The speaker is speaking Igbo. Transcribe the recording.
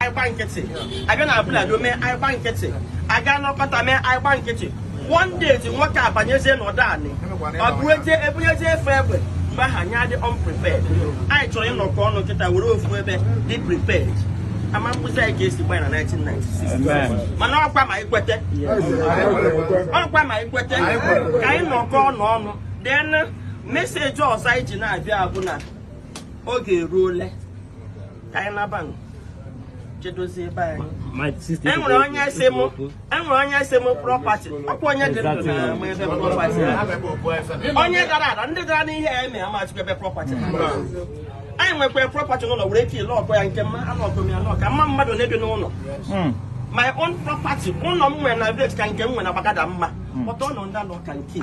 anyị gba nkịtị abịa na Abule Ado mee anyị gba nkịtị aga n'Okota mee anyị gba nkịtị one day ti nwoke abanyezie n'ọdụ anyị ọ bụ eje ebunyezie efe egbe mgbe ahụ anyị adị unprepared anyị chọrọ ịnọkọ ọnụ kịta were ofu ebe dị prepared ama mkpụzi anyị ga-esi gbanye na 1996 mana ọkwa ma ikwete ọkwa ma ikwete ka anyị nọkọ ọnụ ọnụ then message ọzọ anyị ji na-abịa bụ na oge eruole ka anyị naba nụ. chedozie ebe anyị My sister. e nwere onye sị m e nwere onye sị m property ọkwa onye dị ndụ na-ama ebe property ha. onye dara ada ndị dara n'ihe ya eme amaghịkwa ebe property ha anyị nwekwara property n'ụlọ were ike ile ọkọ ya nke mma anụ ọkọ m ya anụ ọ ka mma mmadụ na-ebi n'ụlọ my own property ụlọ m nwere na village ka nke m nwere na Gbagada mma but ụlọ ndị anọ ka nke